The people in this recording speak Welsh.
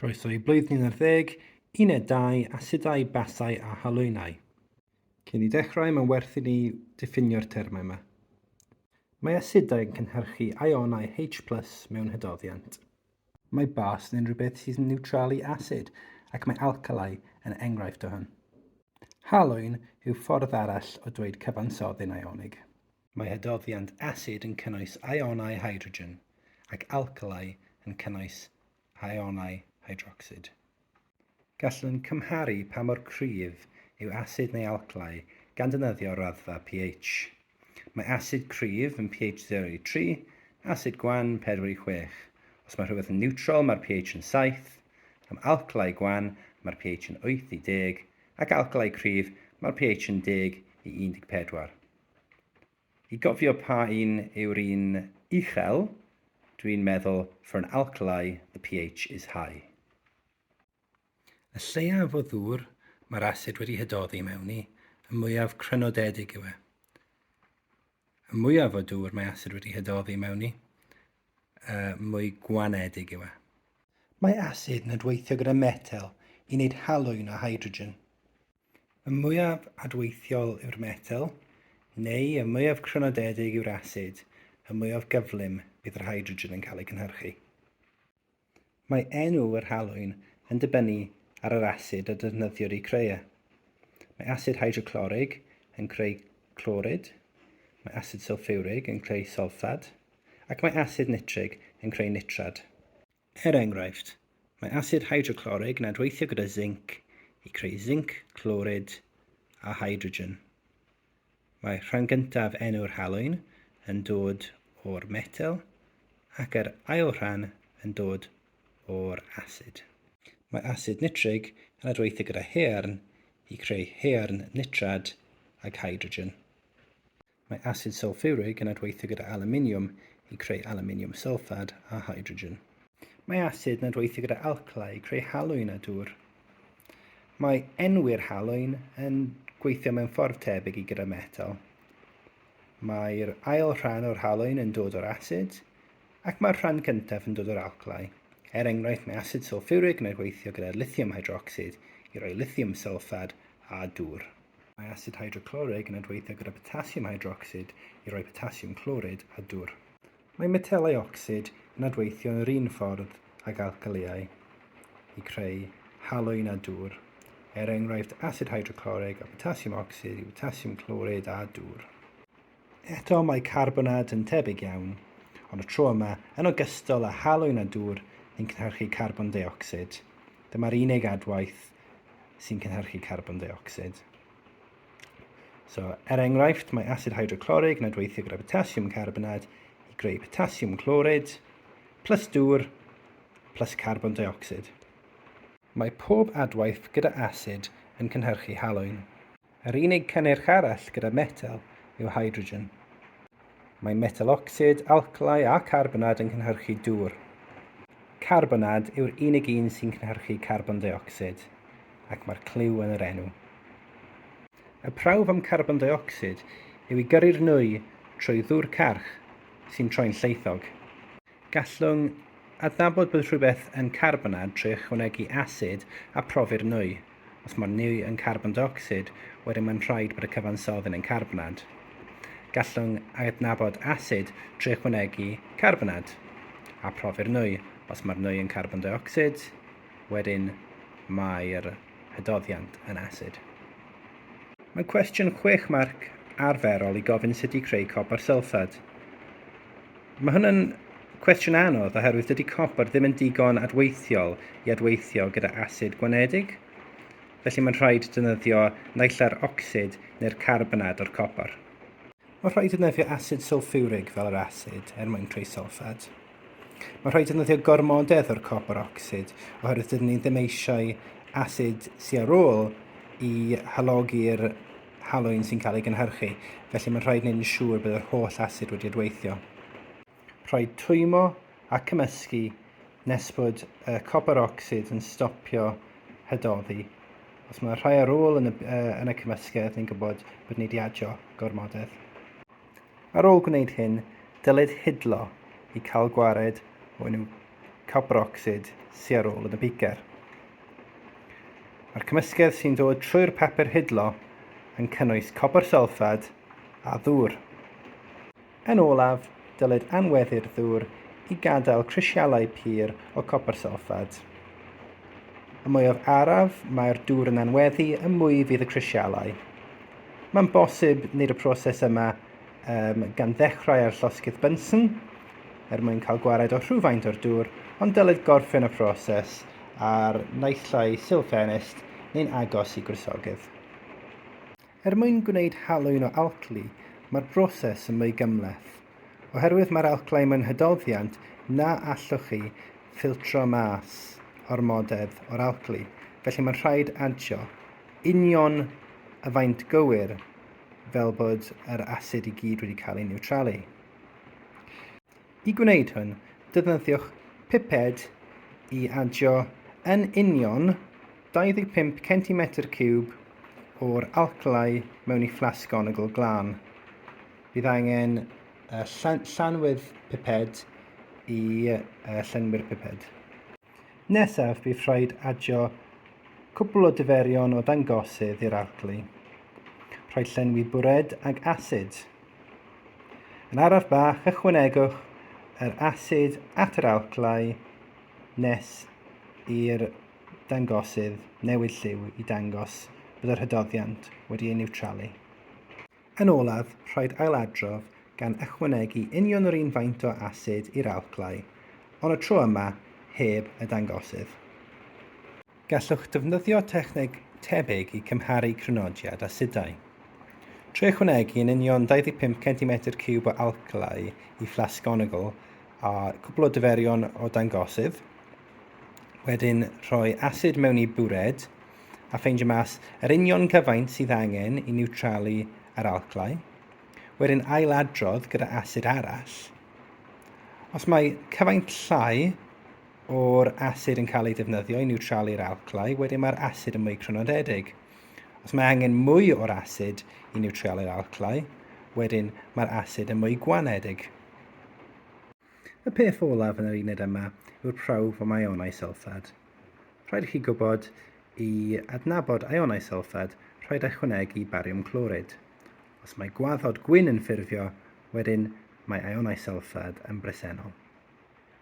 Croeso i Blwyddyn ar Ddeg, Uned 2, Asedau, Basau a Halwynau. Cyn i ddechrau, mae'n werth i ni ddiffinio'r termau yma. Mae asedau yn cynhyrchu ionau H plus mewn hydoddiant. Mae bas yn unrhyw beth sy'n niwtralu asid, ac mae alcalau yn enghraifft o hyn. Halwyn yw ffordd arall o dweud cyfansoddyn ionig. Mae hadoddiant asid yn cynnwys ionau hydrogen ac alcalau yn cynnwys ionau hydrocsid. Gallwn cymharu pa mor cryf yw asid neu alcalau gan ddefnyddio raddfa pH. Mae asid cryf yn pH 0 i 3, asid gwan 4 i 6. Os mae rhywbeth yn niwtral mae'r pH yn 7, am alcalau gwan mae'r pH yn 8 i 10, ac alcalau cryf mae'r pH yn 10 i 14. I gofio pa un yw'r un uchel, dwi'n meddwl for an alkali the pH is high. Y lleiaf o ddŵr mae'r asid wedi hydoddi mewn i, y mwyaf crynodedig yw e. Y mwyaf o dŵr mae asid wedi hydoddi mewn i, y mwy gwanedig yw e. Mae asid yn adweithio gyda metel i wneud halwyn o hydrogen. Y mwyaf adweithiol yw'r metel, neu y mwyaf crynodedig yw'r asid, y mwyaf gyflym bydd yr hydrogen yn cael ei gynhyrchu. Mae enw yr halwyn yn dibynnu ar yr asid a defnyddiwyd i creu e. Mae asid hydroclorig yn creu clorid, mae asid sylffurig yn creu solffad, ac mae asid nitrig yn creu nitrad. Er enghraifft, mae asid hydroclorig yn adweithio gyda zinc i creu zinc clorid a hydrogen. Mae rhan gyntaf enw'r halwyn yn dod o'r metel ac yr ail rhan yn dod o'r asid. Mae asid nitrig yn adweithio gyda haearn i creu haearn nitrad ag hydrogen. Mae asid sylffwrig yn adweithio gyda alwminiwm i creu alwminiwm sylffad a hydrogen. Mae asid yn adweithio gyda alcla i creu halwyn a dŵr. Mae enwi'r halwyn yn gweithio mewn ffordd tebyg i gyda metel. Mae'r ail rhan o'r halwyn yn dod o'r asid, ac mae'r rhan cyntaf yn dod o'r alclau. Er enghraifft, mae asid sylffwrig yn adweithio gyda lithium hydrocsid i roi lithium sylffad a dŵr. Mae asid hydroclorig yn adweithio gyda potasiwm hydrocsid i roi potasiwm clorid a dwr. Mae metelau ocsid yn adweithio yn yr un ffordd ag alcaliau i creu halwyn a dwr, er enghraifft asid hydroclorig a potasiwm ocsid i botasiwm clorid a dwr. Eto mae carbonad yn tebyg iawn, ond y tro yma, yn ogystal â halwyn a dŵr, yn cynhyrchu carbon deuocsid. Dyma'r unig adwaith sy'n cynhyrchu carbon deuocsid. So, er enghraifft, mae asid hydroclorig yn adweithio gyda potasiwm carbonad i greu potasiwm clorid, plus dŵr, plus carbon deuocsid. Mae pob adwaith gyda asid yn cynhyrchu halwyn. Yr unig cynnyrch arall gyda metel yw hydrogen. Mae metalocsid, alclau a carbonad yn cynhyrchu dŵr. Carbonad yw'r unig un sy'n cynhyrchu carbon deuocsid, ac mae'r clyw yn yr enw. Y prawf am carbon deuocsid yw i gyrru'r nwy trwy ddŵr carch sy'n troi'n lleithog. Gallwn adnabod bod rhywbeth yn carbonad trwy ychwanegu asid a profi'r nwy. Os mae'r nwy yn carbon deuocsid, wedyn mae'n rhaid bod y cyfansoddyn yn carbonad. Gallwn adnabod asid trwy ychwanegu carbonad a profi'r nwy. Os mae'r nwy yn carbon deuocsid, wedyn mae'r hydoddiant yn asid. Mae'n cwestiwn chwech marc arferol i gofyn sut i creu copr sylffad. Mae hwn yn cwestiwn anodd oherwydd dydy copr ddim yn digon adweithiol i adweithio gyda asid gwanedig, felly mae'n rhaid defnyddio naill ai'r ocsid neu'r carbonad o'r copr. Mae'n rhaid defnyddio asid sylffiwrig fel yr asid er mwyn creu sylffad. Mae'n rhaid defnyddio gormodedd o'r copr ocsid oherwydd dydyn ni ddim eisiau asid siarol i halogi'r halwyn sy'n cael ei gynhyrchu, felly mae'n rhaid wneud yn siŵr bydd yr holl asid wedi adweithio. Rhaid twymo a cymysgu nes bod y copr ocsid yn stopio hydoddi. Os mae rhai ar ôl yn y, yn y cymysgedd, ni'n gwybod bod ni wedi adio gormodedd. Ar ôl gwneud hyn, dylid hidlo i cael gwared o unrhyw copr ocsid sy ar ôl yn y beaker. Mae'r cymysgedd sy'n dod trwy'r papur hidlo yn cynnwys copr sylffad a ddŵr. Yn olaf, dylid anweddu'r ddŵr i gadael crisialau pur o copr sylffad. Y mwyaf araf mae'r dŵr yn anweddu y mwy fydd y crisialau. Mae'n bosib wneud y proses yma um, gan ddechrau ar llosgydd Bunsen er mwyn cael gwared o rhywfaint o'r dŵr, ond dylid gorffen y proses ar naethlau silfenist neu'n agos i gwrysogydd. Er mwyn gwneud halwyn o alcli, mae'r broses yn mwy gymleth, oherwydd mae'r alclau mewn hydoddiant na allwch chi ffiltro mas ormodedd o'r alcli, felly mae'n rhaid adio union y faint gywir fel bod yr asid i gyd wedi cael ei niwtralu. I gwneud hwn, defnyddiwch piped i adio yn union 25 cm cwb o'r alcalau mewn i fflasg onogl glân. Bydd angen llanwedd piped i llenwi'r piped. Nesaf bydd rhaid adio cwpl o diferion o dangosydd i'r arglwy. Rhoi llenwi bwred ag asid. Yn araf bach ychwanegwch yr asid at yr alclau nes i'r dangosydd newid lliw i dangos bod yr hydoddiant wedi ei niwtralu. Yn olaf, rhaid ailadrodd gan ychwanegu union yr un faint o asid i'r alclau, ond y tro yma heb y dangosydd. Gallwch ddefnyddio techneg tebyg i cymharu crynodiad asidau. Trwy ychwanegu yn union 25 centimetr ciwb o alclau i fflasg onigl a cwpl o diferion o dangosydd, Wedyn rhoi asid mewn i bwred a ffeindio mas yr union cyfaint sydd angen i niwtralu yr alclau. Wedyn ailadrodd gyda asid arall. Os mae cyfaint llai o'r asid yn cael ei defnyddio i niwtralu'r alclau, wedyn mae'r asid yn mwy crynodedig. Os mae angen mwy o'r asid i niwtralu'r alclau, wedyn mae'r asid yn mwy gwanedig. Y peth olaf yn yr uned yma yw'r prawf am ionau sylffad. Rhaid i chi gwybod i adnabod ionau sylffad, rhaid ychwanegu bariwm clorid. Os mae gwaddod gwyn yn ffurfio, wedyn mae ionau sylffad yn bresennol.